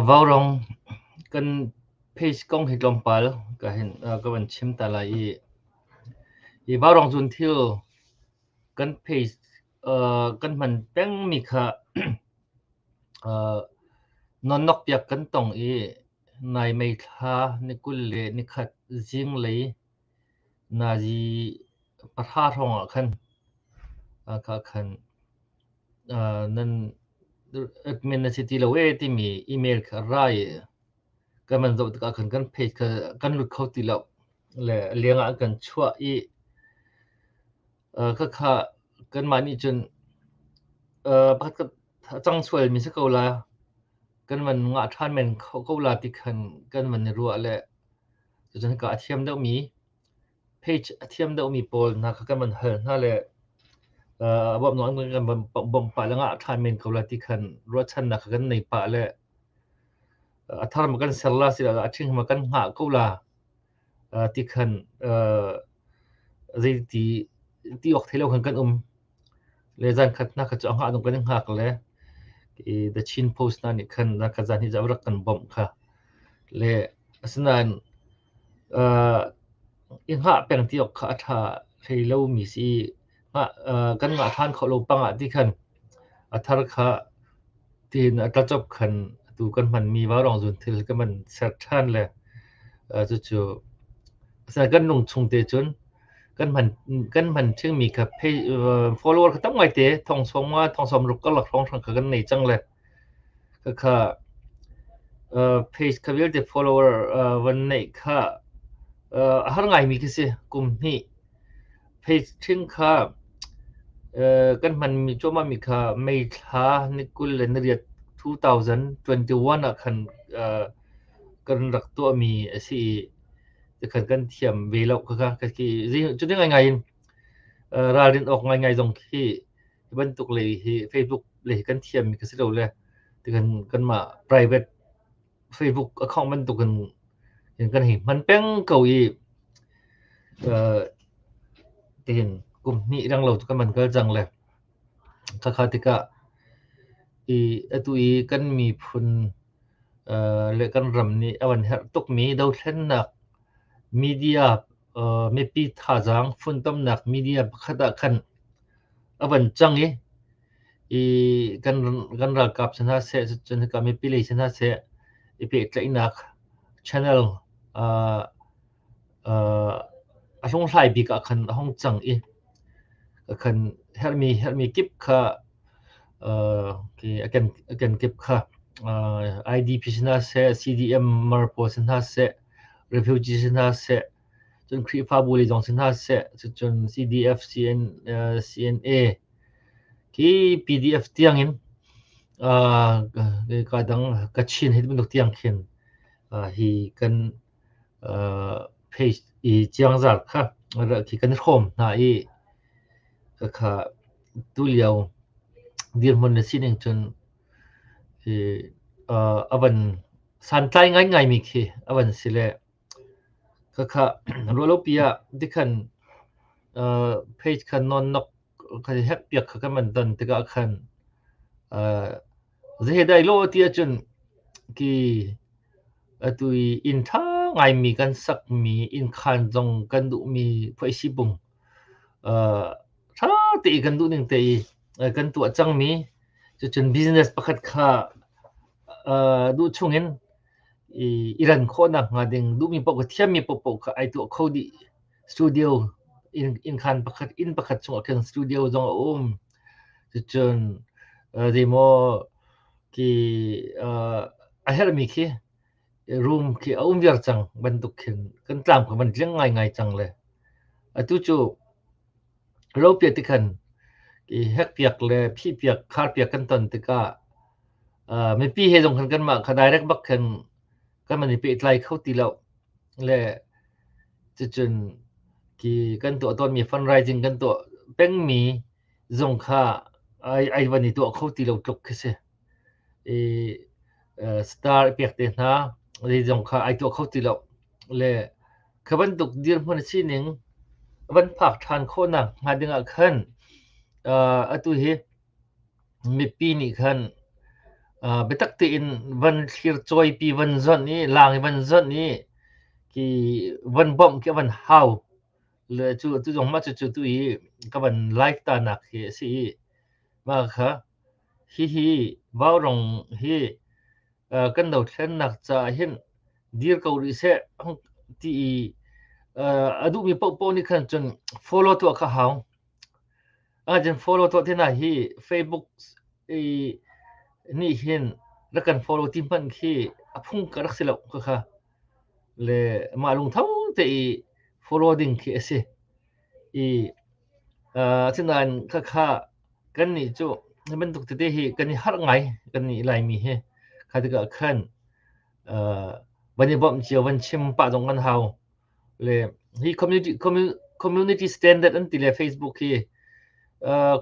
Vaurung kan page kong hi tlawmpal ka van chim ta lai i, hi Vaurung cun thil kan page kan hman pengmi kha nawnnokpiak kan tong i, nai meithla ni kul le nikhat zinglei Nazi pahra hrawng ah khan ka khan. Uh, nan admin na si ti lo ee timi email kha ra i kan van zoh tikah khan kan page kha kan lut kho ti lo. Le leng ah an kan chuah i Khakha kanmah nih cun pakhatkhat a cang sualmi si ko la, kan van ngah ṭhan men ko la ti khan kan van i ruah le cucun hika a thiam deuhmi page a thiam deuhmi pawl hna kha kan van hal hna le a bawmh nawn kan van bawmh pah le ngah ṭhan men ko la ti khan ruahchannak kha kan nei pah le a thar ma kan ser la asiloah a ṭhing ma kan hngah ko la tikhan zeiti ti awk thei lo khan kan um. Le zan khat hna kha cu a hngah dong kan i hngak le i The Chin Post hna nih khan zan khat zan hi zarak kan bawmh kha. Le asinain i hngah peng ti awk kha a ṭha hlei lomi si kanmah hlan kho lo pang ah ti khan a thar kha tiin a tlacop khan tu kan hmanmi vaurong zun thil kan man ser ṭhan le cucu kan nung chung te cun kan man kan man ṭhingmi kha follower kha tam ngai te thong sawm nga thong sawm ruk ka lak hrong hrang kha kan nei cang le Khakha page kha vialte follower van neih kha a har ngaimi khi si kum hnih. Page ṭhing kha kan hmanmi cuahmahmi kha May thla ni kul le ni riat 2021 ah khan kan rak tuahmi a si i tikhan kan thiam ve lo khakha. Cuti ngaingai in ralrin awk ngaingai zong khi Hi bantuk lei hi Facebook lei hi kan thiammi ka si lo le kan kanmah private Facebook account bantuk in kan hei hman peng ko i tihin kum hnih rang lo kan man kal cang le khakha tikah i atu i kan miphun le kan ram nih a van herh tukmi dothlennak media Mipi thazaang funtomnak media pakhat ah khan a van cang i kan ralkap si hna seh cun hika mipi lei si hna seh i pehtlaihnak channel a hlunghlai bik ah khan a hong cang i a kan herhmi kip kha a kenkip kha IDP si hna seh CDM mar pawl si hna seh refugee si hna seh, cun Khrihfabu lei zong si hna seh, cun CDF, CNA, khi PDF tiang in ka dang Kachin hi bantuk tiang khin hi kan page i ciangzar kha khi kan hrawm hna i kha tulio dirhmun na sining cun a van santlai ngaingaimi khi a van si le khakha rualopi ah dikhan uh, page khan non nok khan hek piak kha kan man don tikah khan uh, zehedai lo ti achun ki atui in tha ngaimi kan sak mi in khan zong kan du mi phoisi bung ṭha tein kan duh ning tein kan tuah cangmi cucun business pakhat kha duh chungin i ran khawh nakhnga ding duhmi paoh kha thiammi paohpaoh kha ai tuah kho dih. Studio innkhan pakhat inn pakhat chungah khin studio zong a um. Cucun zeimaw khi a herhmi khi room khi a um viar cang bantuk khin kan tlam kha van tliang ngaingai cang le atu cu ropia ti khan i hekpiak le phihpiak kharpiak kan ton tikah uh, mipi he zong khan kanmah kha direct bak khan kan man i pehtlai kho ti lo le cucun ki kan tuah tawnmi fundraising kan tuah pengmi zong kha ai ai van i tuah kho ti lo tluk khi si i star i pek te hna zei zong kha ai tuah kho ti lo le kha bantuk dirhmun a sining van phak ṭhan khawhnak hnga ding ah khan atu hi mipi nih khan biatak tein van thlircawipi van zonh i laang i van zonh i ki van bawmh khi a van hau le cu atu zong mah cucu tu i ka van like ta nak hi a si i mah kha Hihi Vaurung hi kan dothlennak caah hin dir ko rih seh ti i a duhmi paohpaoh nih khan cun follow tuah kha hau. Ahcun follow tuah ti hna hi Facebook i nih hin rak kan follow ti hmanh khi a phung ka rak si lo khakha. Le mah lungtho te i follow ding khi a si. Asinain khakha kannih cu hi bantuk tete hi kan i harh ngai kannih Laimi hi. Kha tikah khan van i bawmh cio van chim pah zong kan hau. Le hi community community standard an ti le Facebook hi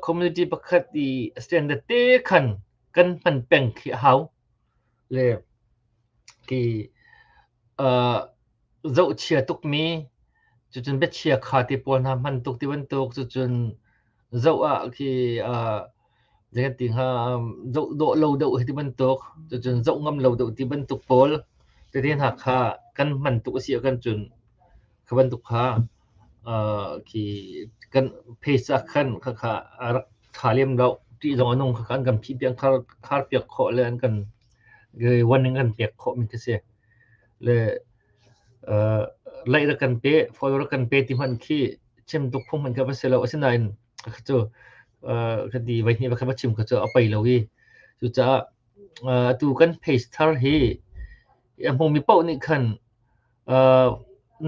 community pakhat i standard te khan kan hman peng khi a hau. Le khi zohchia tukmi cucun biachia kha ti pawl hna hman tuk ti bantuk cucun zoh ah khi zei kan ti hnga zoh dawh lo deuh hi ti bantuk cucun zoh ngam lo deuh ti bantuk pawl tete hna kha kan hman tuk a si ah kan cun kha bantuk kha khi kan phase ah khan khakha rak tha lem loh ti zong a nung khakha an kan phih piak khar piak khawh le an kan Wan in kan pek khawhmi khi si. Le lei rak kan pe, foil rak kan pe ti hmanh khi chem tuk phung hmanh kha va si lo. Asinain cu kati vaihnih va khat va chim kha cu a pei lo i cucaah atu kan pace thar hi a hmumi paoh nih khan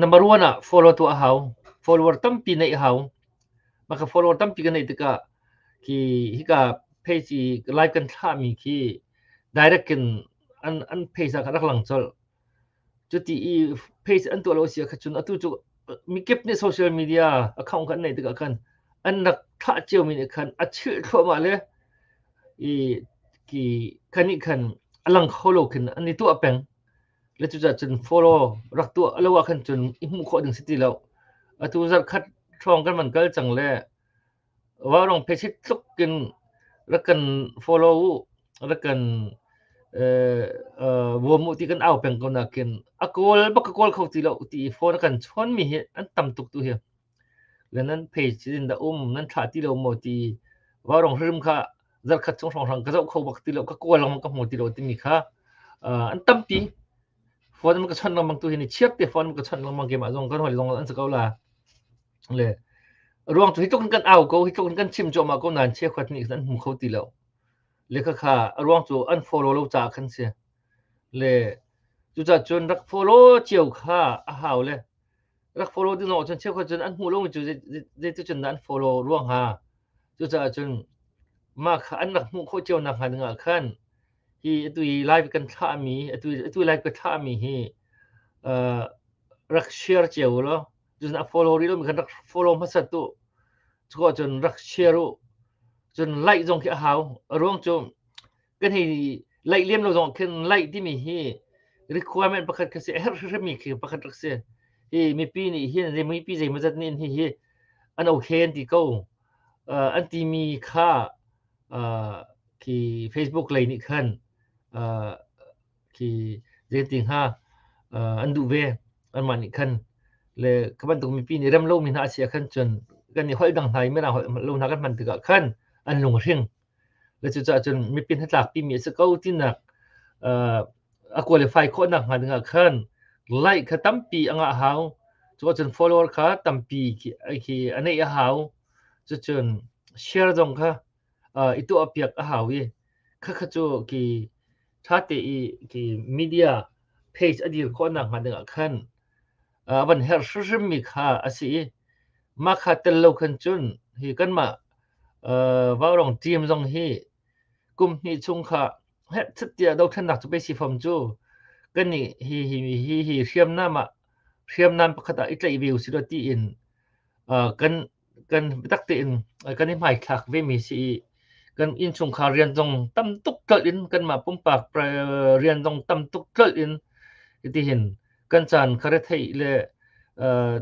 number one ah follow tuah a hau. Follower tampi neih a hau. Mah ka follower tampi ka neih tikah ki hika pheici lai kan thlahmi khi direct in an an pheisa kha rak lang colh cuti i pheisa an tuah lo si kha cun atu cu mikip nih social media account kha an neih tikah khan an rak thlah ciomi nih khan a chilh thluahmah le i ki khanih khan a lang kho lo khin an i tuah peng le cucah cun follow rak tuah lo ah khan cun i hmuh khawh ding si ti lo atu zarh khat hrawng kan van kal cang le Vairung phisit tluk in rak kan follow u, rak kan bawm u ti kan au peng ko nakin a kawl bak ka kawl kho ti lo ti i phone a kan chawnmi hi an tam tuk tu hi. Le nan page in da um nan thlah ti lo maw ti vairung hrim kha zarkhat chung hrangrang ka zoh kho bak ti lo, ka kawl lengmang ka hmu ti lo timi kha an tampi. Phone ma ka chawnh lengmang tu hi ni chiap te phone ma ka chawnh lengmang ke mah zong kan hoi zong an si ko la. le ruang cu hi tluk in kan au ko hi tluk in kan chim cuahmah ko nain cheukhat nih khan an hmu kho ti lo le khakha ruang cu an follow lo caah khan si le cucaah cun rak follow cio kha a hau le rak follow ding lo cun cheukhat cun an hmuh lo cu zeitu cun dah an follow ruang ha cucaah cun mah kha an rak hmuh khawh cio nak hnga dingah khan hi atu i live kan thlahmi atu atu live ka thlahmi hi rak share cio lo cun a follow ril kan rak follow hmasat u cu cun rak share u cun laih zong khi a hau a ruang cu kan hi laih lem lo zong khin laih timi hi requirement pakhat ka si a herh hrimhmi khi pakhat rak si hi mipi nih hin mipi zeimazat nih hi hi an okay an ti ko uh, an timi kha uh, ki facebook lei nih khan uh, khi zeiti hnga an duh ve anmah nih khan le ka bantuk mipi nih rem lomi hna a si ah khan cun kan i holh dang hna i mirang holh lo hna kan hman tikah khan an lung a hring le cucaah cun mipi hnatlakpi mi a si ko tinak a qualify khawhnak hnga dingah khan like kha tampi a ngah hau cuka cun follower kha tampi khi a neih a hau cucun share zong kha i tuah piak a hau i Khakha cu ki ṭha te i ki media page a dir khawh nakhnga dingah khan a van herh hrimhrimmi kha a si i mah kha tel lo khan cun hi kanmah uh, vaurong team zong hi kum hnih chung kha herh thut tiah dothlennak cu si fam cu kan nih hi hi hi hi hriamnam ah hriamnam pakhat ah i tlaih ve usih ti in uh, kan kan biatak tein kan i hmaithlak vemi si i kan innchungkhar rian zong tam tuk tlolh in kanmah pumpak rian zong tam tuk tlolh in hitihin kan caan kharethei le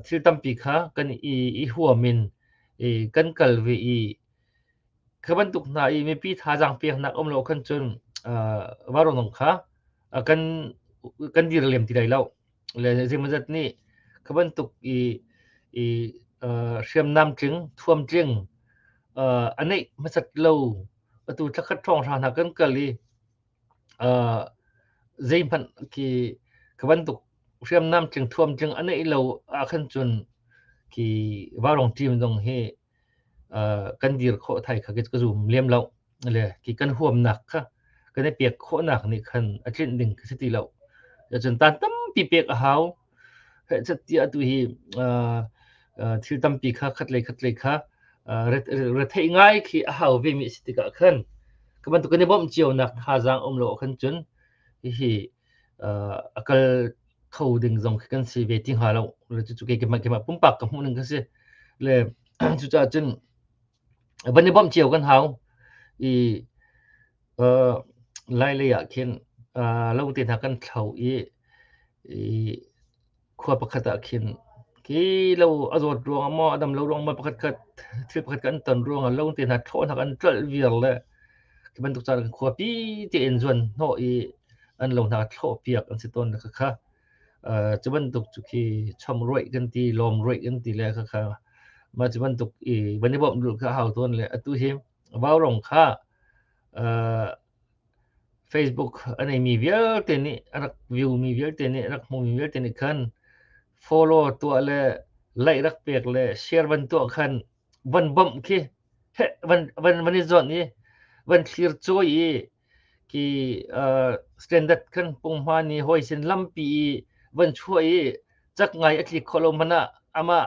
thil tampi kha kan i, i huam in i, kan kal ve i kha bantuk hna i mipi thazaang peknak um lo khan cun uh, varunong kha uh, kan kan dir lem ti lai lo le zeimawzat nih kha bantuk i i uh, hriamnam tling thuam tling uh, a neih hmasat lo atu thakhat thong hra hna kan kal i uh, zei hman ki ka bantuk hriamnam tling thuam tling a neih lo a khan chun ki warong team dong hi uh, kan dir kho thai kha ka zum lem lo le ki kan huam nak kha kan e pek kho nak ni khan a tlin ding ka ti lo ya chun tan tam pi pek a hau he chat tia tu hi thil tam pi kha khat le khat le kha re thei ngai khi a hau ve mi si tika khan kaman tu kan i bom chiu nak tha jang um lo khan chun hi akal kho ding zong khi kan si ve ti hnga lo le cucu keimah keimah pumpak ka hmuh ning kan si le cucaah cun van i bawmh cio kan hau i uh, lailei ah khin uh, lo te hna kan thlo i i khua pakhat ah khin ki lo a zawt ruang mo adam lo ruang mo pakhat khat thil pakhat kan ton ruang lo te hna thlaw hna kan tlal vial le Ti bantuk caan kan khuapi tein zuan hnawh i an lo hna thlawh piak an si tawn khakha. kha. Uh, cu bantuk cu khi chom ruaih kan ti lom ruaih kan ti le khakha ma cu bantuk i ban i bom dul kha hau tawn le atu hi vau rong kha uh, facebook anei mi vialte nih arak view mi vialte nih arak hmu mi vialte nih khan follow tua le like rak pek le share ban tua khan van bawmh khi van van van i zuan i van thlir cawi i ki uh, standard kan pung hma ni hoi sin lampi i van chua i chak ngai atli kholo mana ama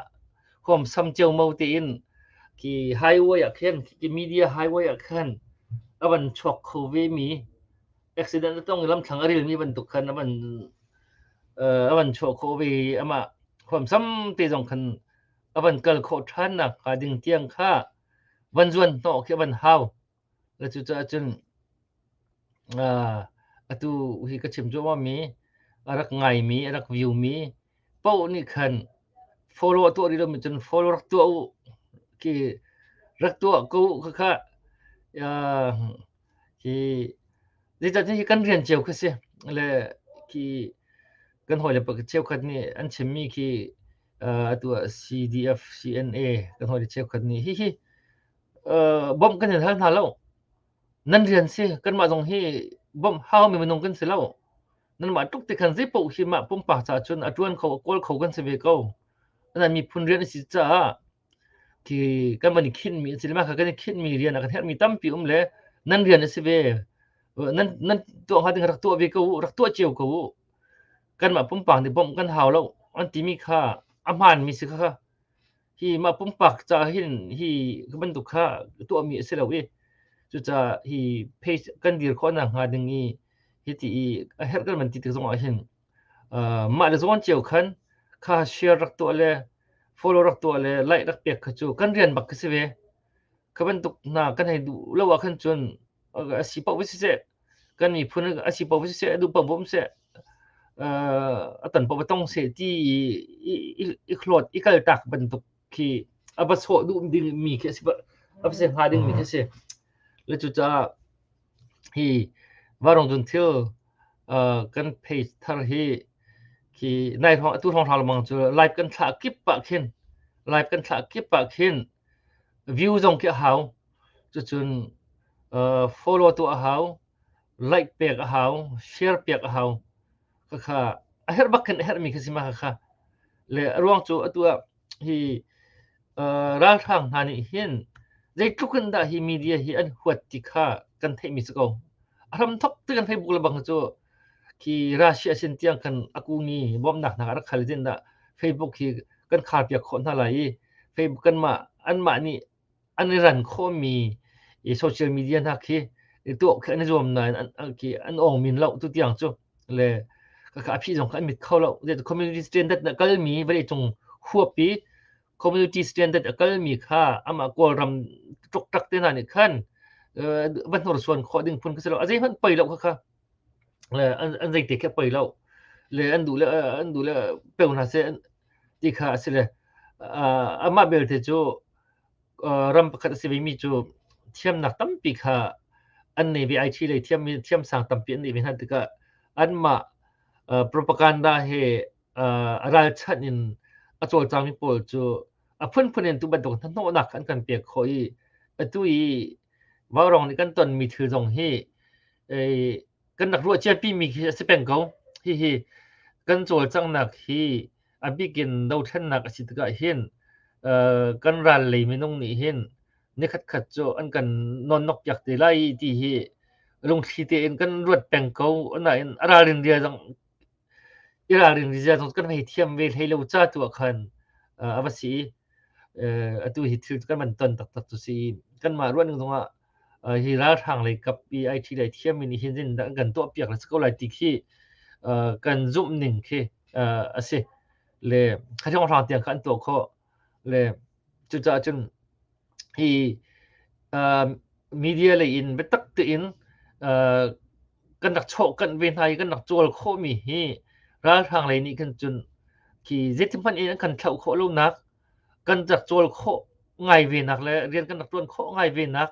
khom sam cheu mo te in ki highway a khen ki media highway a khen avan chok kho ve mi accident tong lam thang aril mi ban tuk khan avan uh, avan chok kho ve ama khom sam te jong khan a van kal khawh ṭhan nakhnga ding tiang kha van zuanhnawh khi a van hau. La cucaah cun atu hi ka chim cuahmahmi a rak ngaimi, a rak viewmi paoh nih khan follow a tuah rih lomi cun follow rak tuah u khi rak tuah ko khakha hi zeicahtiah hi kan rian cio kha si le khi kan hawi le pa cheu khat nih an chimmi khi a tuah CDF-CNA kan hoi cheukhat nih hihi bawmh kan hin hal hna lo nan rian si kanmah zong hi bawmh hau mi minung kan si lo nanmah tuk ti khan zei paoh hi mah pumpak ca cun a ṭuan kho a kawl kho kan si ve ko nan miphun rian a si caah Khi kan van i khinhmi a si le mah kha kan i khinhmi rian ah kan herhmi tampi um le nan rian a si ve. Nan nan tuah hnga ding rak tuah ve ko u, rak tuah cio ko u. Kanmah pumpak nih bawmh kan hau lo an timi kha a hmaanmi si kha hi mah pumpak caah hin hi bantuk kha tuahmi a si lo i cucaah hi page kan dir khawhnak hnga ding i hiti i a herh kan van ti tik zongah hin Mah le zawn cio khan kha share rak tuah le follow rak tuah le like rak pek kha cu kan rian bak khi si ve. Kha bantuk hna kan hei duh lo ah khan cun a si paoh ve siseh, kan miphun a si paoh ve siseh, a duh paoh ve siseh, a tan paoh ve tong seh ti i i hlawt i kal tak bantuk khi a va sawh duh ding mi khi a si a va se hnga ding mi khi a si le cucaah hi varong cun thil kan phei thar hi khi nai thong atu thong hral mang cu live kan thla kip pa khin live kan thla kip pa khin view zong khi a hau cucun follow tu a hau like pek a hau share pek a hau khakha a herh bak khin a herhmi khi si ma khakha le a ruang cu atu ah hi ralhrang hna nih hin zeitluk in dah hi media hi an huat ti kha kan theihmi si ko a hram thok ti kan facebook le bang cu khi russia sin tiang kan akuni bawmnak hna rak khal din dah facebook hi kan khar piak khawh hna lai i facebook kanmah anmah nih an i ran khawhmi i social media hna khi i tuah khi an i zuam nain an khi an awng min lo tu tiang cu le ka phi zong kha an mit kho lo community standard na kalmi vale cung huapi community standard a kalmi kha amah kawlram tuk tak te hna nih khan va hnursuan khawh ding phun ka si lo a zei hmanh pei lo kha le an, an zeite khi a poi lo le an duh le an duh le peu hna seh an, ti kha a si le uh, amah belte cu uh, ram pakhat a si vemi cu thiamnak tampi kha an nei ve ai thi le thiam thiam sang tampi an nei ve hna tikah anmah uh, propaganda he uh, ralchanh in a cawlcangmi pawl cu a phunphun in tu bantuk hnahnawhnak an kan pek khawh i atu i Vaurong nih kan tonmi thil zong hi kan rak ruah ciampimi khi a si peng ko. Hihi kan cawlcanghnak hi a bikin dothlennak a si tikah hin kan ral lei minung nih hin nikhatkhat cu an kan nonnok piak te lai ti hi lungthli tein kan ruat peng ko. Nain a ralrin ria zong i ralrin ria zong kan hei thiam ve hlei lo ca tu ah khan a va si i atu hi thil kan van ton taktak cu si. Kanmah ruahning zongah hi ralhrang lei kap i ai thi lai thiammi nih hin zindah kan tuahpiak le si ko lai ti khi kan zumh ning khi a si le khathawnghrang tiang kha an tuah khawh le cucaah cun hi media lei in biatak tein kan rak chawhkanh ve hna i kan rak cawl khawhmi hi ralhrang lei nih khan cun khi zeiti hmanh in an kan thlauh khawh lonak kan rak cawl khawh ngai venak le rian kan rak tuan khawh ngai venak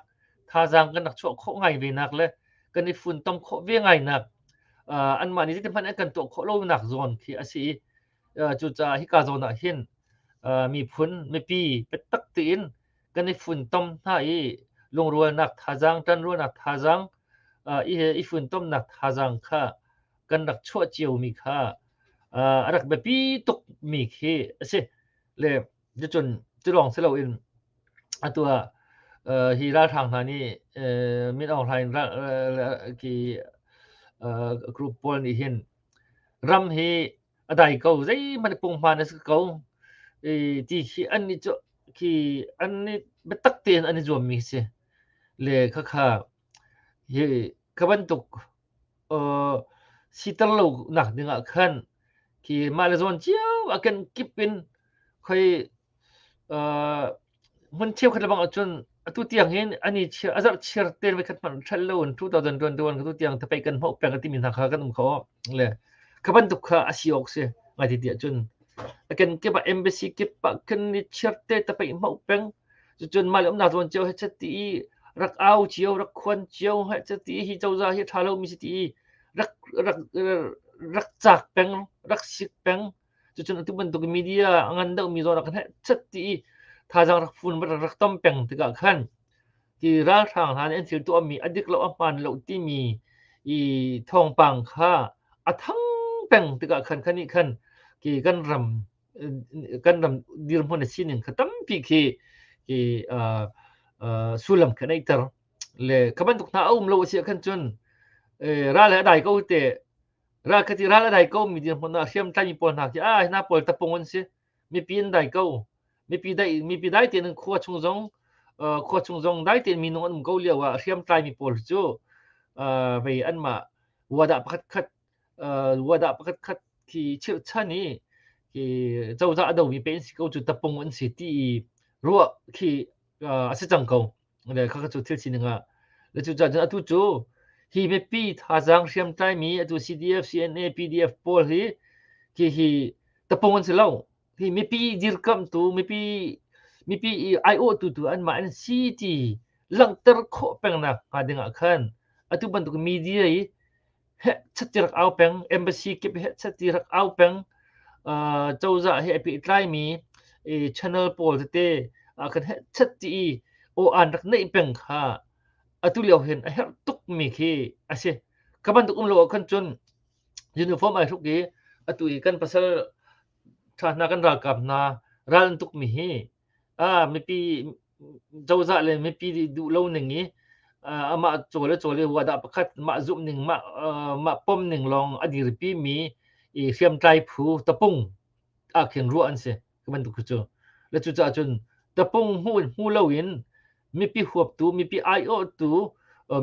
thazaang kan rak chuah khawh ngai venak le kan i funtom khawh ve ngainak uh, anmah nih zeiti hmanh an kan tuah khawh lonak zawn khi a si i uh, cucaah hika zawn ah hin uh, miphun mipi biatak tiin kan i funtom hna i lungrualnak thazaang tanrualnak thazaang uh, i, i funtomnak thazaang kha kan rak chuah ciomi kha uh, a rak biapi tukmi khi a si le cun cu lawng si loin atu ah uh, hi ralhrang hna nih uh, min aung hlain ki uh, group pawl nih hin ram hi a dai ko zeihmanh pungma na si ko i ti khi an ni cu khi an ni biatak tein an i zuammi si le khakha Kha bantuk siter lonak ding ah khan khi mah le zawn cio a kenkip in khoi hmun cheukhat lebang ahcun atu tiang hin an i a zarh chiar ten voikhat hmanh ṭhal loin two thousand twenty-one atu tiang thapeih kan hmuh peng a timi hna kha kan um kho. Le kha bantuk kha a si awk si ngai ti tiah cun a kenkip ah embassy kip ah kan i chiarte thapeih hmuh peng Cucun mah umnak zawn cio he chati i rak au cio rak khuan cio he chati hi cozah hi tha lomi si ti rak rak rak cak peng rak sik peng cucun atu bantuk media a ngan deuhmi zawn kan he chati i thazang rak fun rak rak tom peng tikah khan ti ralhrang hna nih an thil tuahmi a dik lo a hmaan lo timi i thawngpang kha a thang peng tikah khan khan nih khan ki kan ram kan ram dirhmun a sining kha tampi khi hi sullam kha nei ter le ka bantuk hna a um lo a khan cun ral a dai ko te ra ka ti ral a dai ko mi dirhmun na hriam tlai mi pawl hna khi a hna pawl tapung an si mipi an dai ko mipi dai mipi dai te nan khua chung zong khua chung zong dai te mi nung an um ko liawa hriam tlai mi pawl cu vei an ma wada pakhat khat Wada pakhat khat khi chirhchan i hi cozah a domi pe an si ko cu tapung an si ti i ruah khi a si cang ko. Le khakha cu thil sining ah. Le cu cun atu cu hi mipi thazaang hriamtlaimi atu CDF, CNA, PDF pawl hi khi hi tapung an si lo. Hi mipi dirkamtu, mipi mipi i aiawhtu tu anmah an si ti langhter khawh peng nak hnga ding ah khan atu bantuk media i he chatirak au peng embassy kip he chatirak au peng cozah he api tlaimi channel pawl tete kan he chatti i o an rak neih peng kha atu lio hin a herh tukmi khi a si ka bantuk um lo kan cun uniform ai hruk i atu i kan pasal ṭha hna kan ralkap hna ral an tukmi hi ah mipi cozah le mipi duh lo ning i amah caw le caw le huat ah pakhat mah zumh ning mah mah pom ning lawng a dirpi mi i hriamtlai phu tapung ah khin ruah an si bantuk cu le cucaah cun tapung hmu hmu lo in mipi huaptu, mipi aiawhtu,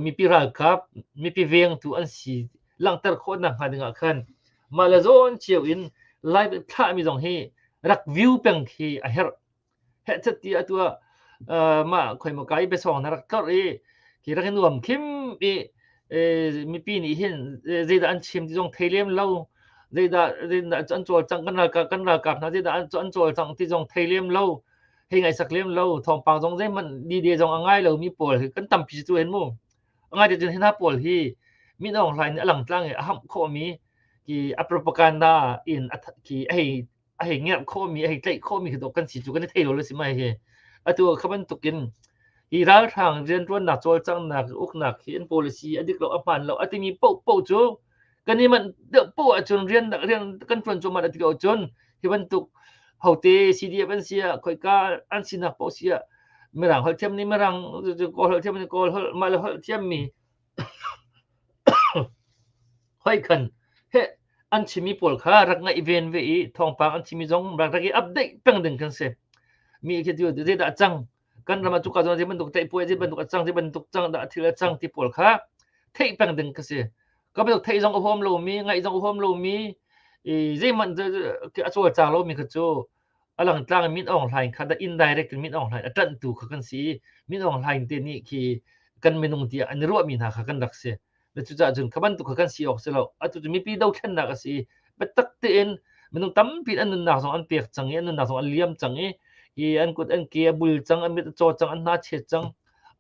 mipi ralkap, mipi vengtu an si langhter khawhnak hnga dingah khan mah le zawn cio in live thlahmi zong hi rak view peng khi a herh. Headset ti atu ah mah khoi mo kai besong na rak kar i ki rak in nuam kim i mipi nih hin zeidah an chim ti zong thei lem lo zeidah zeidah an cawlcang kan ralkap kan ralkap hna zeidah an cawlcang ti zong thei lem lo hei ngaisak lem lo thawngpang zong zeihmanh dide zong a ngai lomi pawl hi kan tampi cu en mu a ngai te hna pawl hi min ong hlain a lang tlang i a hamh khomi ki a propaganda in a ki a hei a hei ngerh khomi a hei tlaih khomi khi kan si cu kan i thei lo le si mai hi atu khaban tukin hi ralhrang riantuannak cawlcanghnak uknak hi an policy adik lo ahman lo atimi po po cu kan i manh deuh poh ahcun rian rian kan ṭuan cuahmah a ti ko cun hi bantuk hote CDF an si ah khoika an sinak poh si ah mirang holh thiam nih mirang kawl holh thiam nih kawl holh mah le holh thiam mi hoi khan he an chimi pawl kha rak ngaih ven ve i thawngpang an chimi zong rak rak i update peng ding kan si mi khi tu zedah cang kan ram ah cuka zong zei bantuk teihpuai zei bantuk a cang zei bantuk cang dah thil a cang ti pawl kha theih peng ding ka si ka bantuk theih zong a huam lomi ngaih zong a huam lomi i zeihmanh a cawl cang lomi kha cu a lang tlang min ong hlain kha da indirect min ong hlain a tanhtu kha kan si min ong hlain te nih khi kan minung tiah an i ruahmi hna kha kan rak si na cucaah cun kha bantuk kha kan si awk si lo atu cu mipi dothlennak a si i biatak tein minung tampi an nunnak zong an pek cang i an nunnak zong an liam cang i i an kut an ke a bul cang an mit a caw cang an hna chiat cang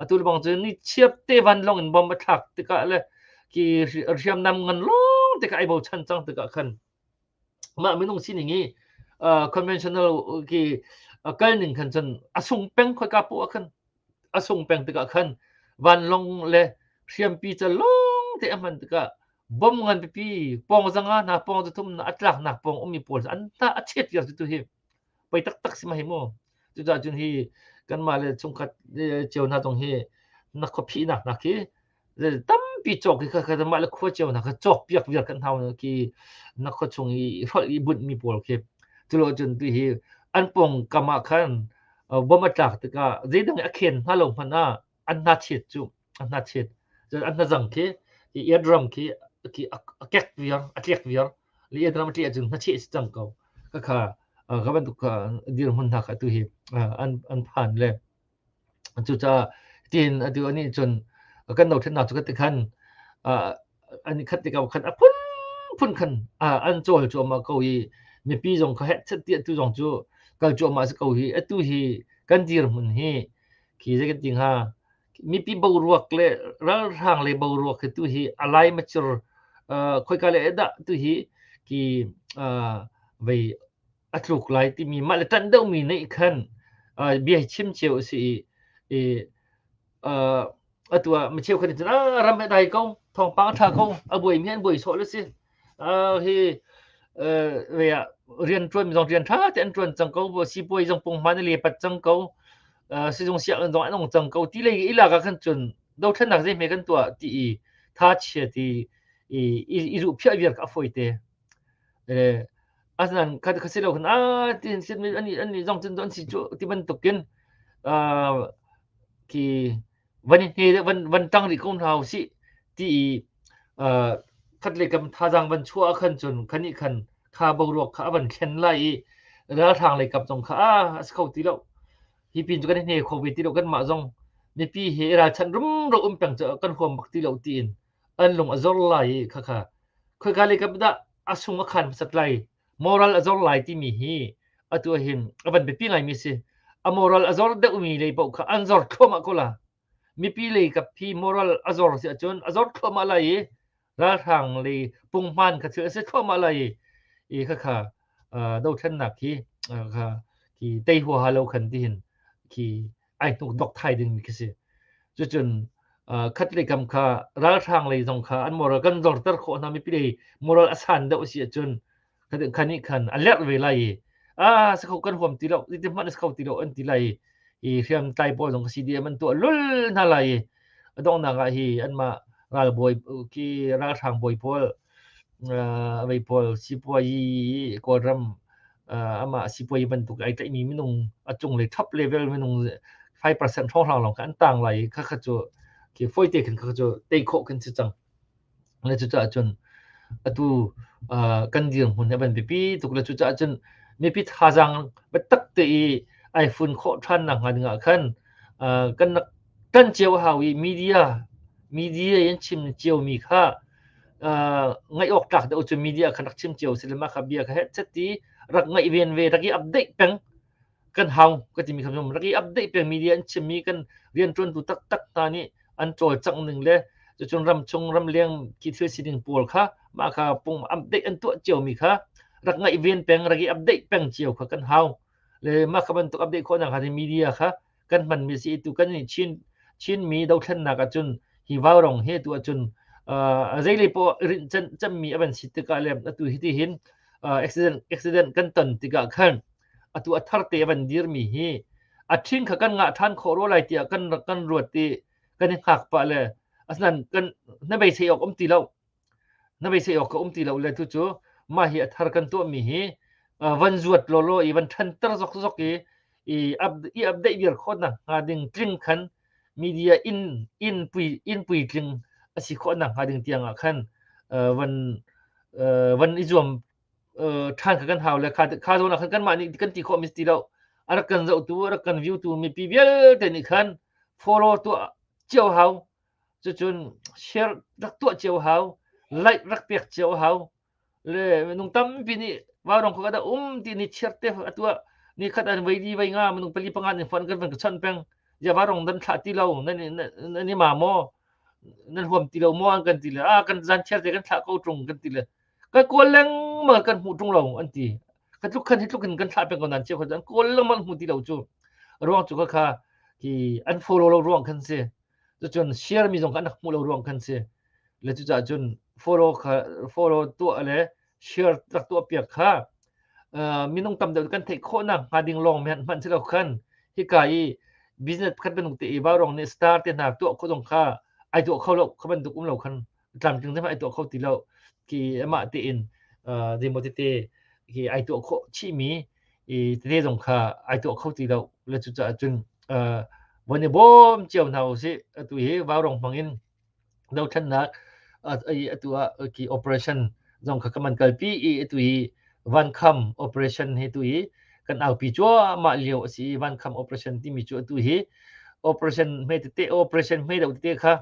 atu le bang cun ni chiap te van long in bom a thlak tikah le ki hriamnam ngan long tikah ai bochan cang tikah khan mah minung sining hi uh, conventional ki uh, kal ning khan cun a sung peng khoi ka pu khan a sung peng tikah khan vanlong le hriampi ca long te aman tikah bom ngan pipi pong zanga na pong cu thum na atlak nak pong umi pawl an ta achet yar tu hi pei taktak si ma hi mu cucaah cun hi kanmah le chungkhat cio hna zong hi na khuaphinak hna khi tampi cawk khi kha mah le khua cio hna kha cawk piak viar kan hau khi na khua chung i hrolh i buntmi pawl khi culo cun tu hi an pong kamah khan bom a tlak tikah zeidang a khen hna lo hmanh ah an hnachit cu a hnachit cun an hnazang khi i ian ram khi khi a kek viar a tlek viar li ian ram tli cun hnachih si cang ko ka kha ka bantuk dir mun hna kha tu hi an an phan le cucaah tin atu ani cun kan no ṭhen na chu ka ti khan ani khat ti ka khan a phun phun khan an chol chu ma ko hi mipi zong kha het set ti tu zong chu kal chu ma si ko hi atu hi kan dir mun hi khi zai kan ti hnga mipi boruak le ralhrang le boruak hi tu hi alai machir khoika le dah tu hi ki vei atluk lai timi mah le tan deuh mi neih khan bia chim cheu si i atua macheu kan tin ah ram dai ko thong pang tha ko abuai mi an buai so le si hi rianṭuanmi zong rian ṭha tein an ṭuan cang ko, sipuai zong punghman a lepat cang ko, sizung sianginn zong an ong cang ko, ti le i lak ah khan cun dothlennak zeihme kan tuah ti i thachia ti i ruhphiah viar kha a fawite. Asinain khasi lo khan a tin sit mi an ni zong cun an si cu ti bantukin ki van hi van van tang rih ko hna u sih ti i uh, khat le kam thazang van chua khan cun khani khan kha boruak kha avan khen lai i ralhrang lei kap zong kha a as kho ti lo hi pin chu kan hne kho ve ti lo kan mah zong mipi he ralchan rum ro um peng chu kan huam bak ti lo ti in an lung a zor lai kha kha khoi ka le kap da asung a khan sat lai moral a zor lai timi hi atu ahhin a van biapi ngaimi a si a moral a zor deuhmi lei paoh kha an zor thluahmah ko la mipi lei kap hi moral a zor si ahcun a zor thluahmah lai i ralhrang lei pungman kha thil a si thluahmah lai i i khakha dothlennak hi kha ki tei huaha lo khan tihin ki ai tuk dok thai dingmi khi si cucun khat lei kam kha ralhrang lei zong kha an moral kan zorter khawh hna mipi lei moral asan deuh si ahcun khan nih khan a lerh ve lai i ah sa kho kan huam ti lo ti hman sa kho ti lo an ti lai i hriam tlai pawl zong si dia man tu lul hna lai i dongnak ah hi anmah ralbawi ki ralhrang bawi pawl a vei pawl sipuazi Kawlram amah sipuazi bantuk ai tlaihmi minung a cung le top level minung 5% hrawnghrang lawng kha an tang lai i khakha cu khi foite khin khakha cu tei khawh khin si cang le cucaah cun atu kan dirhmun a van biapi tuk le cucaah cun mipi thazaang biatak te i ai fun khawh ṭhan nak hnga dingah khan kan rak kan cio a hau i media media in chim na ciomi kha ngaih awk tlak deuh cu media kha rak chim cio si le mah kha bia kha headset i rak ngaih ven ve rak i update peng kan hau ka timi kha rak i update peng media in chimmi kan riantuantu taktak hna nih an cawlcangh ning le cucun ram chung ram leng khi thil sining pawl kha mah kha pung update an tuah ciomi kha rak ngaih ven peng rak i update peng cio kha kan hau le mah kha bantuk update khawhnak hna media kha kan hmanmi si tu kan in chin chinmi dothlennak ahcun hi vaurong he tu ahcun uh, zeile po rin chan chammi avan si tikah le atu hi ti hin uh, accident accident kan ton tikah khan atu atharte avan dirmi hi athin kha kan ngah than kho ro lai tiah kan kan ruat ti kan i hngak pa le asnan kan na bei sei ok om ti lo na beisei awk ka um ti lo le tucu mah hi a thar kan tuahmi hi van zuat lawlaw i van ṭhanter zokzok i i update viar khawhnak hnga ding tling khan media in in pui in pui tling asi khawhnak hnga ding tiang ah khan van van i zuam ṭhan kha kan hau le kha kha zawn ah khan kanmah nih kan ti khawhmi ti lo a rak kan zohtu a rak kan view tu mipi vialte nih khan follow tuah cio hau Cucun share rak tuah cio hau, like rak pek cio hau. Le minung tampi nih vaurong kho kada um ti ni cheer te a tuah. Ni khat an vei di vei nga minung pali panga nih fuan kan van ka chan peng. Ja varong dan thlah ti lo nan nan i ma maw nan huam ti lo maw an kan ti le a kan zan cheer te kan thlah ko trung kan ti le ka kual leng ma kan hmu trung lo an ti ka tluk khan hi tluk in kan thlah peng ko nan che ko an kual leng man hmu ti lo chu ruang chu ka kha ki an follow lo ruang khan si Cucun share mi zong kha an rak hmuh lo ruang khan si. Le cucaah cun follow kha follow tuah le share rak tuah piak kha uh, minung tam deuh kan theih khawh nak hnga ding lawng men hman si lo khan hika i business pakhat bantuk te i va rong nih star te hna tuah khawh zong kha ai tuah kho lo kha bantuk um lo khan tlamtling zema ai tuah kho ti lo ki amah tein demo tete ki ai tuah kho chimi i tete zong kha ai tuah kho ti lo le cu caah cun von i bawm cio hna u si atu hi vaurong hmangin do thannak atu ah ki operation zong kha kaman kalpi i atu hi van kham operation he tu hi kan aupi chua ma lio asi van kham operation timi chu atu hi operation me te operation me do te kha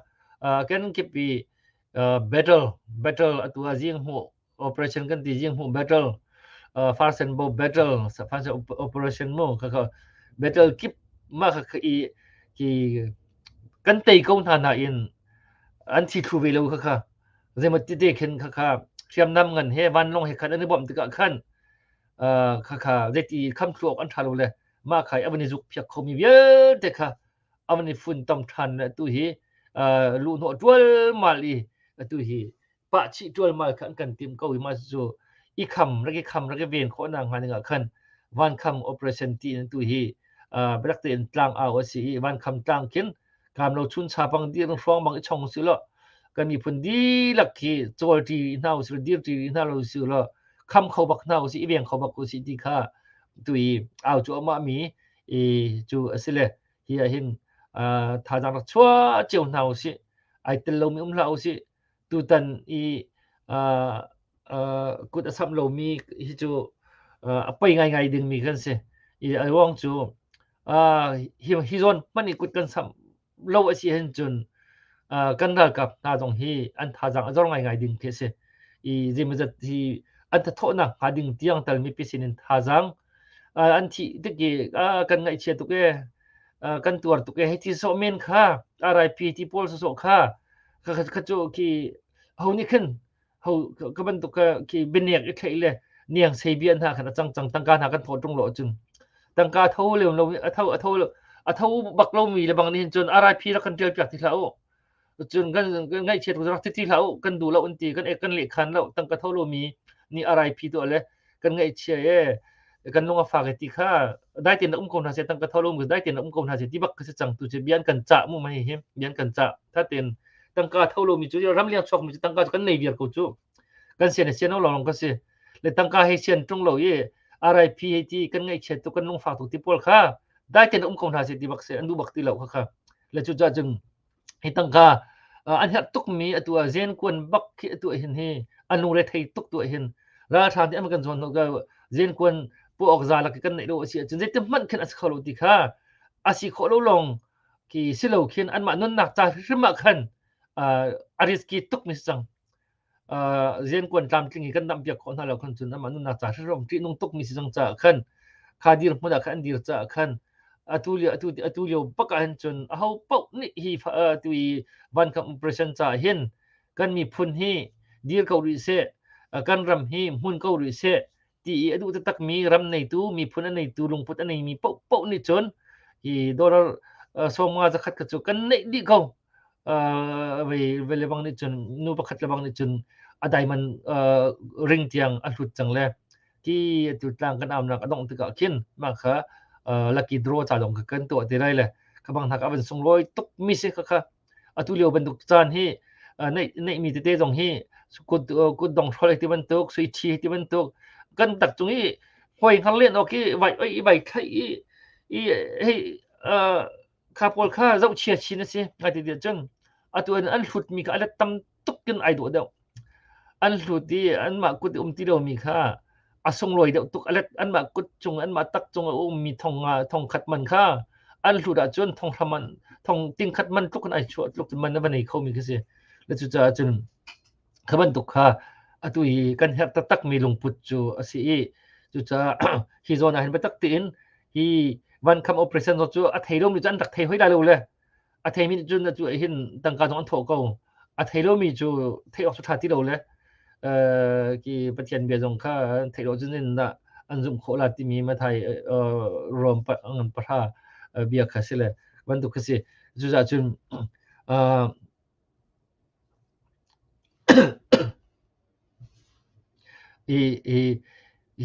kan kip i battle battle atu a jing mu operation kan ti jing mu battle farsen bo battle sapan sa operation mo ka ka battle kip ma ka i ki kan tei ko hna na in an thi thu ve lo kha kha zemat ti te khen kha kha thiam nam ngan he van long he khan an bom tika khan kha kha zeti kham thluok an thalo le ma khai abani juk phiak khomi vialte kha aman i fun tam than tu hi lu hnawh tualmal i tu hi pahchih tualmal kha an kan tim ko i ma cu i kham rage kham rage ven kho na ngani nga khan van kham operation ti tu hi berak te in tlang a o si i van kham tlang kin kam lo chun cha bang dir hruang bang i chong si lo kan i phun di lak khi chol ti na u si dir ti na lo si lo kham kho bak na u si i veng kho bak u si ti kha tu i au chu ma mi i cu a si le hi ah hin thazaang rak chuah cio hna u sih ai tel lomi um hlah u sih tutan i kut a samh lomi hi cu a pei ngaingai dingmi kan si i a ruang cu hi zawn hmanh i kut kan samh lo a si hin cun kan ralkap hna zong hi an thazaang a zor ngaingai ding khi a si i zeimawzat hi an thathawhnak hnga ding tiang tal mipi sin in thazaang an thih tik i kan ngaihchia tuk e kan tuar tuk e hi ti sawh men kha RIP ti pawl sawsawh kha kha cu khi ho nih khin ho ka bantuk ka ki biniak i thlei le niang sei bia hna khan a cang cang tangka hna kan tho tung lo cun tangka tho leu lo a tho a tho a tho bak lo mi le bang nih cun arai phi ra kan ṭial piak ti hlah u cun kan ngaih chiat rak ti ti hlah u kan du lo an ti kan ek kan leh khan lo tangka tho lo mi ni arai phi to le kan ngaihchia e kan lung a fak e ti kha dai tin um ko hna se tang ka thol um dai tin um ko hna se ti bak ka se chang tu che bian kan cha mu mai him bian kan cha tha ten tang ka tholo mi chu ram liang chok mi chu tang ka kan nei vier ko chu kan se ne se no long ka se le tang ka he sen tung lo ye RIP he ti kan ngaihchia tu kan lung fa tu ti pol kha dai ten um ko hna se ti bak se andu bak ti lo kha kha le chu ja jeng hi tangka an herh tukmi atu ah zen kuan bak khi atu ah hin hi an lungre thei tuk tu ah hin ralhrang nih an kan zuan ka zen kuan pu ok za lak kan nei lo asi cun zeitin hmanh khin a si kho lo ti kha asi khawh lo long ki silo khin an mah nunnak ca hrimah khan a riski tuk mi si cang ziankuan tlamtling hi kan dam piak khawh hna lo khan cun amah nunnak ca hrawng ṭihnung tukmi si cang caah khan kha dir hmun ah khan an dir caah khan atu lio atu atu lio bak ah hin cun aho paoh nih hi atu i vankam operation caah hin kan miphun hi dir ko rih seh kan ram hi hmun ko rih seh ti i a duh taktakmi ram neitu miphun a neitu lungput a neimi paohpaoh nih cun hi dollar sawmnga zakhat kha cu kan neih dih ko ve lebang nih cun nu pakhat lebang nih cun a diamond ring tiang a hlut cang le ti tu tlang kan amnak a dongh tikah khin mah kha lucky draw ca lawng kha kan tuah ti rai le khabang hnak a van sunglawi tuk mi si kha kha Atulio bantuk caan hi neihmi tete zong hi kutdong hrawl hi tibantuk, suiṭhi hi tibantuk kan tak cung i hoi hngar len awk i vai oi i vai thlaih i i hei kha pawl kha zohchia chin a si. Ngai ti tiah cun atu an hlutmi kha a let tam tuk in ai duh deuh an hlut i anmah kut i um ti lomi kha a sunglawi deuh tuk alet anmah kut cung anmah tak cung a ummi thong thong khat man kha an hlut ahcun thong hram an thong ting khat man tluk in ai chuah tluk in man a van ei khomi khi si le cucaah cun kha bantuk kha atu hi kan herh taktakmi lungput cu a si i cucaah hi zawn ah hin biatak tiin hi van kham operation zo cu a thei lomi cu an rak thei hoi la lo le a theimi nih cun atu hin tangka zong an thawh ko a thei lomi cu theih awk cu ṭha ti lo le ki pathian bia zong kha theih lo cun in dah an zumh khawh la timi mathai rom ngan pahra bia kha si le bantuk kha si cucaah cun i i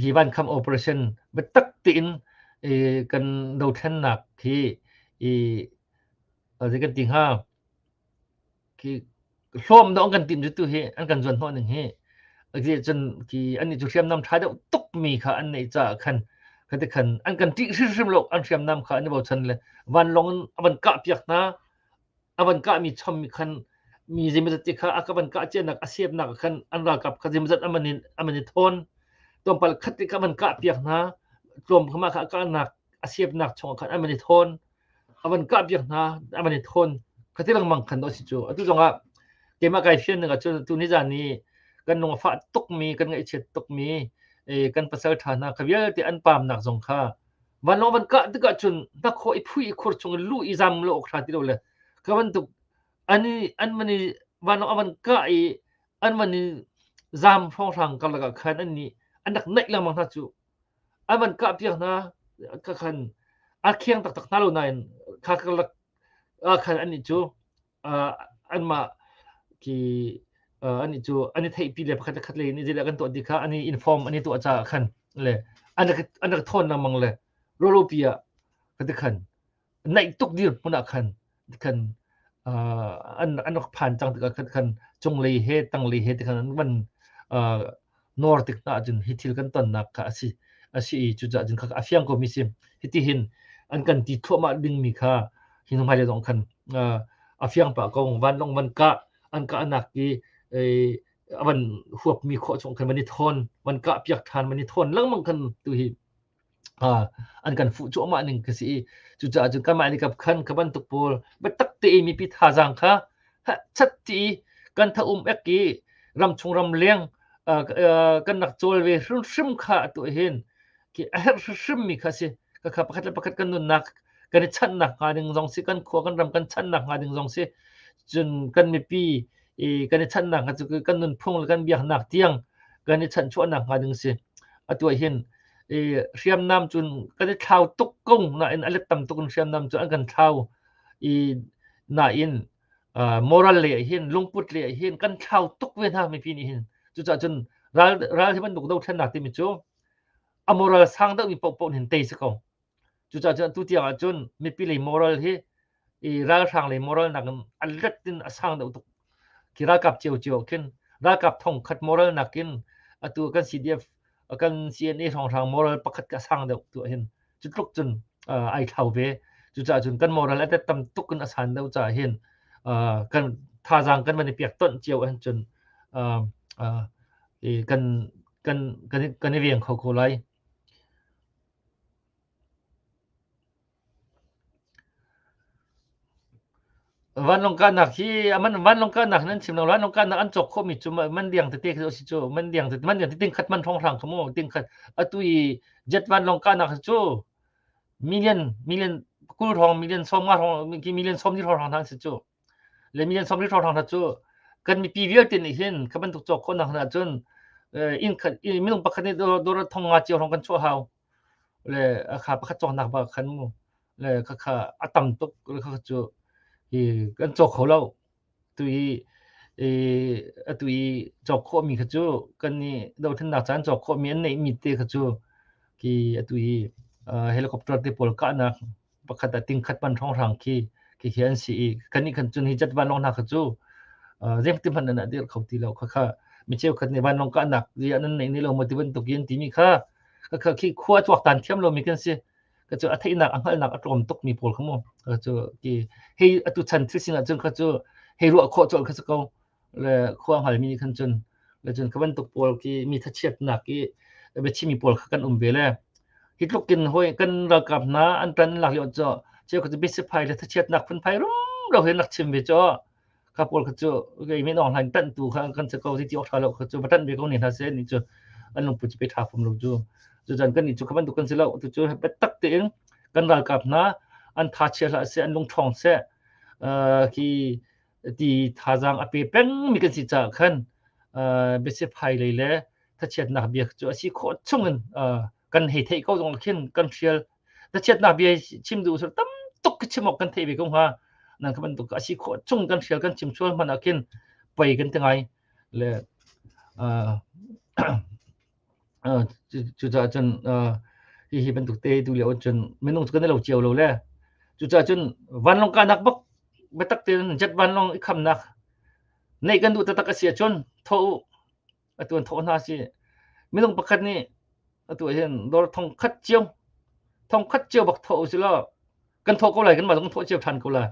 hi vankam operation biatak tein i kan dothlennak hi i zei kan ti hnga ki hlawm dong kan timh tu hi an kan zuan hnawh ning hi ati cun ki an nih cu hriamnam ṭha deuh tuk mi kha an neih caah khan khati khan an kan ṭih hrimhrim lo an hriamnam kha an i bochan le vanlong in a van kah piak hna a van kahmi chom mi khan mi zeimazat te kha a ka van kah cianak a siapnak khan an ralkap kha zeimazat aman in aman in thawn tlawmpal khat te ka van kah piak hna tlawm khama kha a kahnak a siapnak chong khan aman i thawn avan kah piak hna aman i thawn khati lengmang khan do si cu atu zongah keimah kai fian ning ahcun tu ni zan ni kan nung fa tuk mi kan ngaih chiat tuk mi kan pasal tha hna kha vialte an pamnak zong kha vanlawng van kah tik ahcun hnakhaw i phui i khur chung in luh i zam lo awk hra ti lo le ka bantuk an i an man i vanlawng a van kah i an van i zam hrawnghrang karlak ah khan an nih an rak naih lengmang hna cu an van kah piak hna ka khan a khiang taktak hna lo nain kha karlak ah khan an nih cu anmah ki an i cu an i theihpi le pakhat khat le in izile kan tuah ti kha an i inform an i tuah caah khan le an rak thawn na mang le rawropi ah ka ti khan naih tuk dir hmun ah khan khan an rak phan cang tikah khan cunglei he tanglei he ti khan an van nawr tik hna ahcun hi thil kan tonnak kha a si a si i cucaah cun khaka a fiang komi si hitihin an kan ti thluahmah dingmi kha hi hnuhmailei zong khan a fiang pah ko vanlawng van kah an kah anak i a van huapmi khawh chung khan van i thawn van kah piak ṭhan van i thawn lengmang khan tu hi an kan fuh cuahmah ning ka si i cucaah cun kanmah nih kap khan ka bantuk pawl biatak te i mipi thazaang kha chat ti kan tha um ek i ramchung ram leng kan nak cawl ve hrimhrim kha atu hin ki a herh hrimhrim mi kha si ka kha pakhat le pakhat kan nunnak kan i channak hnga ding zong si kan khua kan ram kan channak hnga ding zong si cun kan mipi kan i channak hnga cu kan nun phung le kan biaknak tiang kan i chan chuahnak hnga ding si atu hin i hriamnam cun kan i thlau tuk kong nain a let tam tuk in hriamnam cu an kan thlau i nain uh, moral le hin lungput le hin kan thlau tuk ve hna mi pi nih hin cucaah cun ral ral hi bantuk dothlennak timi cu a moral sang deuh mi paohpaoh hin tei si ko Cucaah atu tiang ahcun mipi lei moral hi i ralhrang lei moral nakin an let in a sang deuh tuk. Khi ralkap cio cio ah khin ralkap thongkhat moral nakin atu kan CDF kan CNA hrawnghrang moral pakhat ka sang deuh tu ahhin cu tluk cun ai thlau ve. Cucaah cun kan moral atet tam tuk in a san deuh caah hin kan thazaang kan van i pek tonh cio ahhin cun kan kan i veng kho ko lai. Vanlawng kahnak hi vanlawng kahnak nan chim lo. Vanlawng kahnak an cawk khawhmi cu man liang tete khi a si cu. Man liang tete, man liang tete tingkhat man hrawnghrang kha mu. Tingkhat atu i jet vanlawng kahnak hi cu million, million kul hrawng, million sawm nga hrawng, million sawm li hrawnghrang hna an si cu. Le mi an sawm rih hrawhhrang hna cu kan mipi vialte nih hin ka bantuk cawk khawhnak hna ahcun inn khat minung pakhat nih dawr thong nga cio hrawng kan chuah hau le kha pakhat cawknak ba khan mu le khakha a tam tuk le khakha cu hi kan cawk kho lo tu i atu i cawk khawhmi kha cu kan i dothlennak caan cawk khawhmi an neihmi te kha cu ki atu i helicopter te pawl kahnak pakhat a tingkhat pan hranghrang khi khi hi an si i kan nih khan cun hi cat vanlong hna kha cu zeng ti hman ana dir kho ti lo kha kha mi cheu khat nih vanlong ka nak zi anan nei ni lo mo ti bantuk yin ti mi kha ka kha khi khua chuak tan thiam lo mi kan si ka cu a theinak a hngalnak a tlawm tuk mi pawl kha mu ka cu ki hei atu chan thil sin ah cun kha cu hei ruah khawh chol kha ko le khuahngal mi nih khan cun le cun kha bantuk pawl khi mi thachiatnak i biachimi pawl kha kan um ve le hi tluk in hoi kan ralkap hna an tan lak yo cho cheu kha bisifai le thachiatnak phun phai rum ro hin nak chim ve cho kha pawl kha chu gei mi nong hlan tan tu kha kan se ko ti ti okha lo kha chu batan ve ko ni na se ni chu an lung pu chi pe tha phum lo chu chu chan kan ni chu khaban dukan se lo tu chu pe tak te in kan ralkap hna an tha chia la se an lung thong se ki ti thazaang a pe pengmi kan si caah khan biasiphai lei le thachiatnak bia cu a si khawh chungin kan hei theih ko zong khin kan hrial thachiatnak bia chim duh sir tam tuk chim awk kan theih ve ko hnga nan ka bantuk a si khawh chung kan hrial kan chim sual hman ah khin pei kan ti ngai le cucaah cun hihi bantuk te tu lio cun minung cu kan i lo cio lo le cucaah cun vanlawng kahnak bak biatak tein jet vanlawng i khamnak neih kan duh taktak a si ahcun thaw u atu an thawh hna si minung pakhat nih atu hin dawr thong khat cio thong khat cio bak thaw u sih law kan thawh ko lai kan mah kan thawh cio than ko la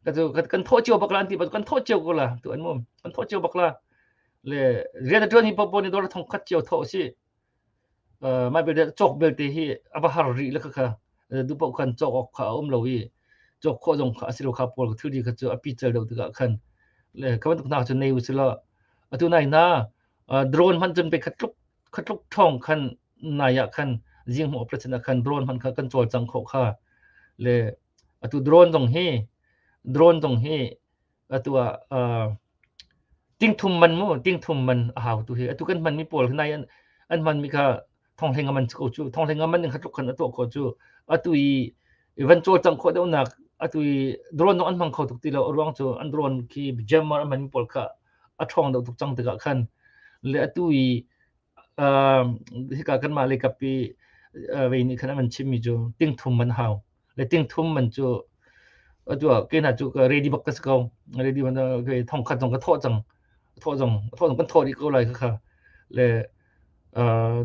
ka tu kan thawh cio bak la anti kan thawh cio ko la tu an mum kan thawh cio bak la le rian tuan hi popo ni dor thong khat cio tho si ờ mai bel chok bel te hi aba har ri la kha du pa khan chok ok kha um lo hi chok kho jong kha asilo kha pol thu di kha chu api chal do ga khan le kawan tuk na chu nei usila atu nai na drone man chun pe khat tluk khatluk thawng khan nai ah khan zinghmu operation ah khan drone man kha kan cawlcang khawh kha le atu drone zong hi drone zong hi atu ah tingthum man mu tingthum man a hau tu hi atu kan hman mi pawl nai an an hman mi kha thong hleng aman ko chu thong hleng aman khatluk khan ato ko chu atu i evan col cang kho deuh nak atu i drone dong an hmang kho tuk ti lo ruang chu an drone khi jam an man mi pawl kha a ṭhawng deuh tuk cang tikah khan le atu i hika kanmah le kap i vei nih khan an van chimmi cu tingthum an hau le tingthum man cu atu ah kena cu ready bak ka si ko ready man thong khat zong ka thawh cang thawh zong thawh zong kan thawh dih ko lai kha le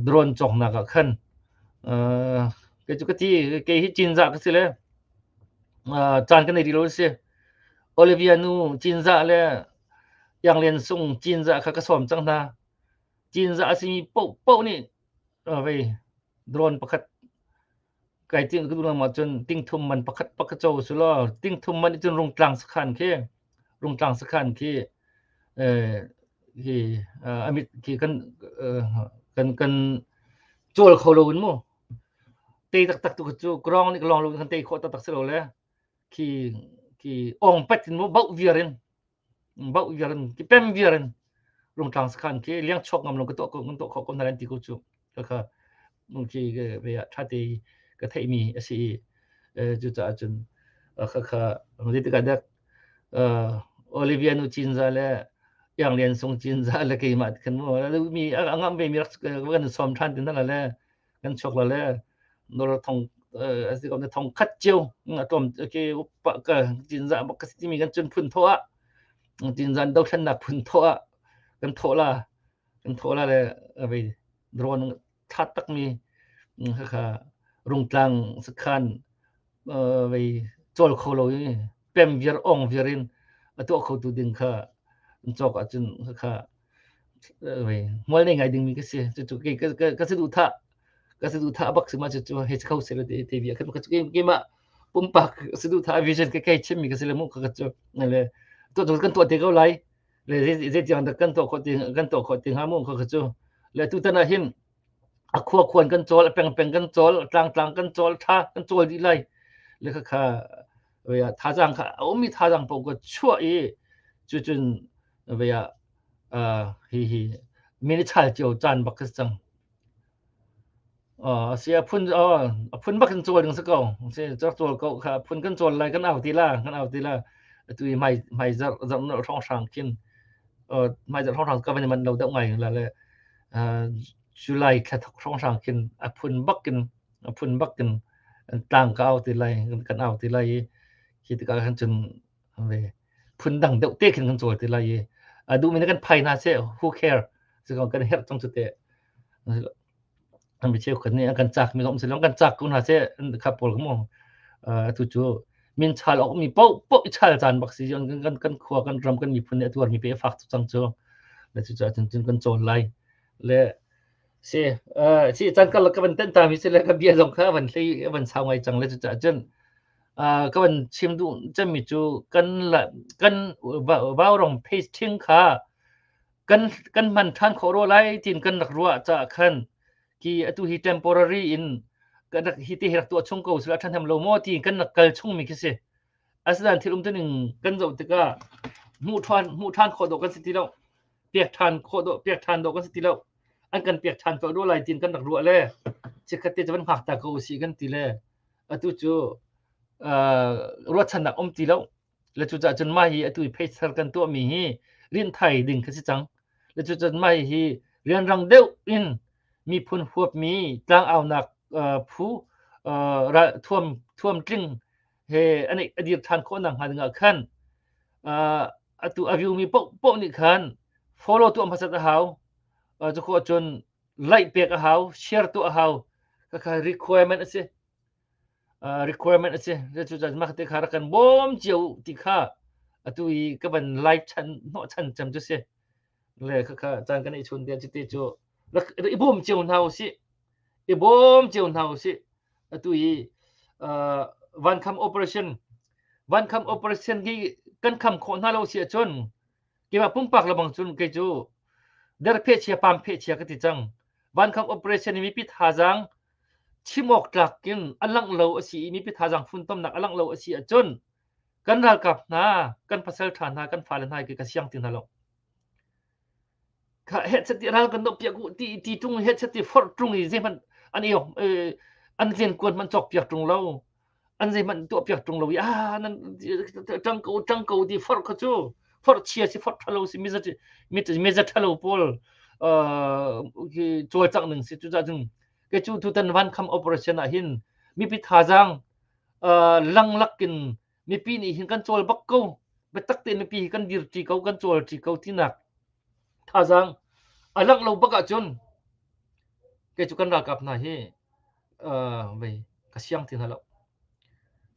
drone cawknak ah khan kei cu ka ti kei hi cinzah ka si le caan kan ei rih lo si Olivia nu Cinzah le Iang Sung Cinzah kha ka sawm cang hna. Cinzah a simi paoh paoh nih vei drone pakhat kai ting ku lung ma cun tingthum man pakhat pakhat co su law tingthum man cun rungtlang sakhan khi rungtlang sakhan khi khi amit khi kan kan kan col kho lo in mu te tak tak tu cu grong ni long lo kan te kho tak tak si lo le ki ki ong pet in mo bau viarin bau viarin ki pem viarin rung tlang sakhan ki liang chok ngam lo ka to ko to kho ko na ran ti ko chu ka ka mung ki ve ya tha te ka thei mi asi chu ta chun ka ka di ka dak Olivia nu chin za le yang lian sung chin za le ke ma kan mo mi angam be mi kan som than tin la le kan chok la le nor thong asi ko ne thong khat chiu atom ke upa ka tin za bak ka timi kan chun phun thoa tin zan do thlan na phun thoa kan thola kan thola le avei drone that tak mi kha rung tlang sakhan vei cawl kho lo i pem viar, ong viar in a tuah khotu ding kha an cawk ahcun khakha vei hmual nei ngai dingmi ka si. Cucu ka si duhthah ka si duhthah bak si ma cucu hei si kho seh law ti via kan keimah pumpak si duhthah vision ka kei chimmi ka si le mu ka cu le tu tu kan tuah te ko lai le zei tiang dah kan tuah khawh ti kan tuah khawh ti hnga mu ka cu le tutan ah hin a khuakhuan kan cawl, a pengpeng kan cawl, a tlangtlang kan cawl, tha kan cawl dih lai. Le kha kha thazang kha a ummi thazang paoh ka chuah i cucun vaya hi hi minichal cio caan bak ka si cang. A si a phun a phun bak kan cawl ding si ko. Si rak cawl ko kha a phun kan cawl lai kan au ti la, kan au ti la. Atu i mai mai zarh zarh nal hrang hrang kin mai zarh hrang hrang ka van i manh lo deuh ngai la le July thla thok hrawnghrang khin a phun bakin a phun bakin tlang ka au ti lai kan au ti lai i khi tikah khan cun phun dang deuh te khin kan cawl ti lai i a duhmi nih kan phai hna seh who care kan herh cang cu teh mi cheu khat nih an kan cak mi zong si lawng kan cak ko hna seh an kha pawl mu atu cu min chal ok mi po po chal chan bak si jon kan kan khua kan ram kan miphun ne atuar mi pe fak cang chu la chu cha chin chin kan chol lai le si si chan kal ka ban ten ta mi se le ka bia zong kha ban hlei ban sao ngai chang le chu cha chen ka ban chim du chen mi chu kan la kan bao rong phase thing kha kan kan man than khawh ro lai tin kan rak ruah caah khan ki atu hi temporary in kan rak hi te rak tuah chung ko sila than hem lo mo ti kan rak kal chung mi khi si asinan thil um tuning kan zo tikah mu than mu than kho do kan si ti lo pek than kho do pek than do kan si ti lo an kan pek than ko ro lai tin kan rak ruah le chikkhat te chavan ngak ta ko si kan ti le atu chu ruat chan nak um ti lo Le cucaah cun mah hi atu i pheisar kan tuahmi hi rinthai ding kha si cang. Le cucaah mah hi rianrang deuh in miphun huapmi tlangaunak phu thuam thuam tling he an a dir ṭhan khawh nakhnga dingah khan atu a riumi paohpaoh nih khan follow tuah hmasat a hau. Cukhawh cun like pek a hau, share tuah a hau. Kakha requirement a si. requirement a si cucaah mah te kha rak kan bawm cio ti kha atu i ka van lai chan hnawh chan cem cu si le khakha caan kan i chun te cu te cu rak i bawm cio hna u si i bawm cio hna u si atu i van kham operation van kham operation hi kan kham khawh hna lo si ahcun keimah pumpak lebang cun kei cu der phehchia pam phehchia ka ti cang vankham operation i mipi thazaang chim awk tlak in alangh lo asi i mipi thazaang funtomnak alangh lo asi ahcun kan ralkap hna kan pasal ṭha hna kan fale hna hi ka siang ti hna lo kha hechati ral kan nok piak u ti ti tung hechati forh tung i zeihmanh an i an len kuan man chok piak tung lo an zeihmanh tuah piak tung lo i a nan tang ko tang ko ti forh kha cu forh chia si forh thalo si miza miza thalo pawl col chang ning si cu za cun ke cu tutan van kham operation ah hin mipi thazang lang lakin mipi nih hin kan cawl bak ko biatak tein mipi hi kan dir ṭi ko kan cawl ṭi ko tinak thazaang a langh lo bak ahcun kei cu kan ralkap hna hi vei ka siang ti hna lo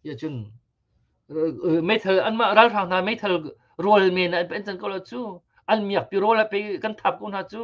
ya cun meithal anmah ralhrang hna meithal rawl men an pen can ko lo cu an miak pi rawl a pe kan thap ko hna cu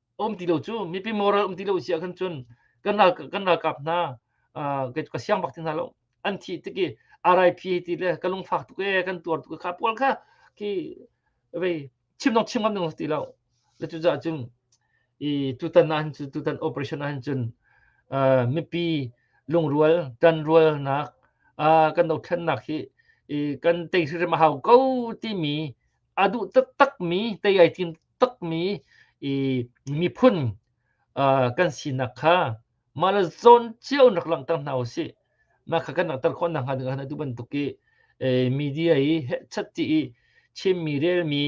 a um ti lo cu mipi moral um ti lo si ah khan cun kan ral kan ralkap hna ka siang bak ti hna lo an thih tik i RIP ti le ka lungfak tuk e kan tuar tuk kha pual kha ki vei chim dong chim ngam dong ti lo le cu za cun i tutan na han cu tutan operation na han cun mipi lungrual tanrual nak kan do thannak hi i kan tei si ma hau ko ti mi a duh taktak mi tei ai tim takmi i miphun kan sinak kha mah le zawn cio rak langhter hna u sih mah kha kan langhter khawh nakhnga ding hna tu bantuk i media i headset ti i chimmi relmi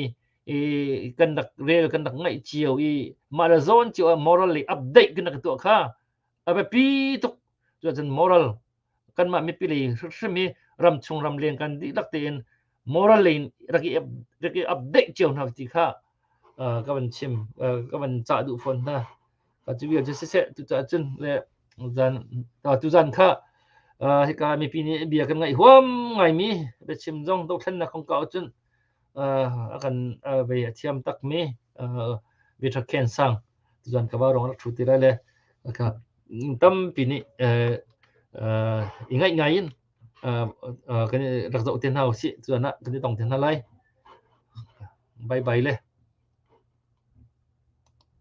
i kan rak rel kan rak ngaih cio i mah le zawn cio ah moral i update kan rak tuah kha a biapi tuk cuacun moral kanmah mipili hrim hi ram chung ram leng kan dihlak tein moral lei rak i rak i update cio hna ti kha ka van chim ka van cah duh fawn hna ka cu vial cu siseh tucah cun le zan tuzan kha hika mipi nih bia kan ngaih huam ngaimi biachim zong dothlennak kong ka cun a kan vei a thiam takmi bia ṭhakken sang cun ka va rong rak ṭhu ti lai le ka tampi nih i ngaih ngai in kan i rak zoh te hna usih cun ah kan i tong te hna lai. Bye bye le.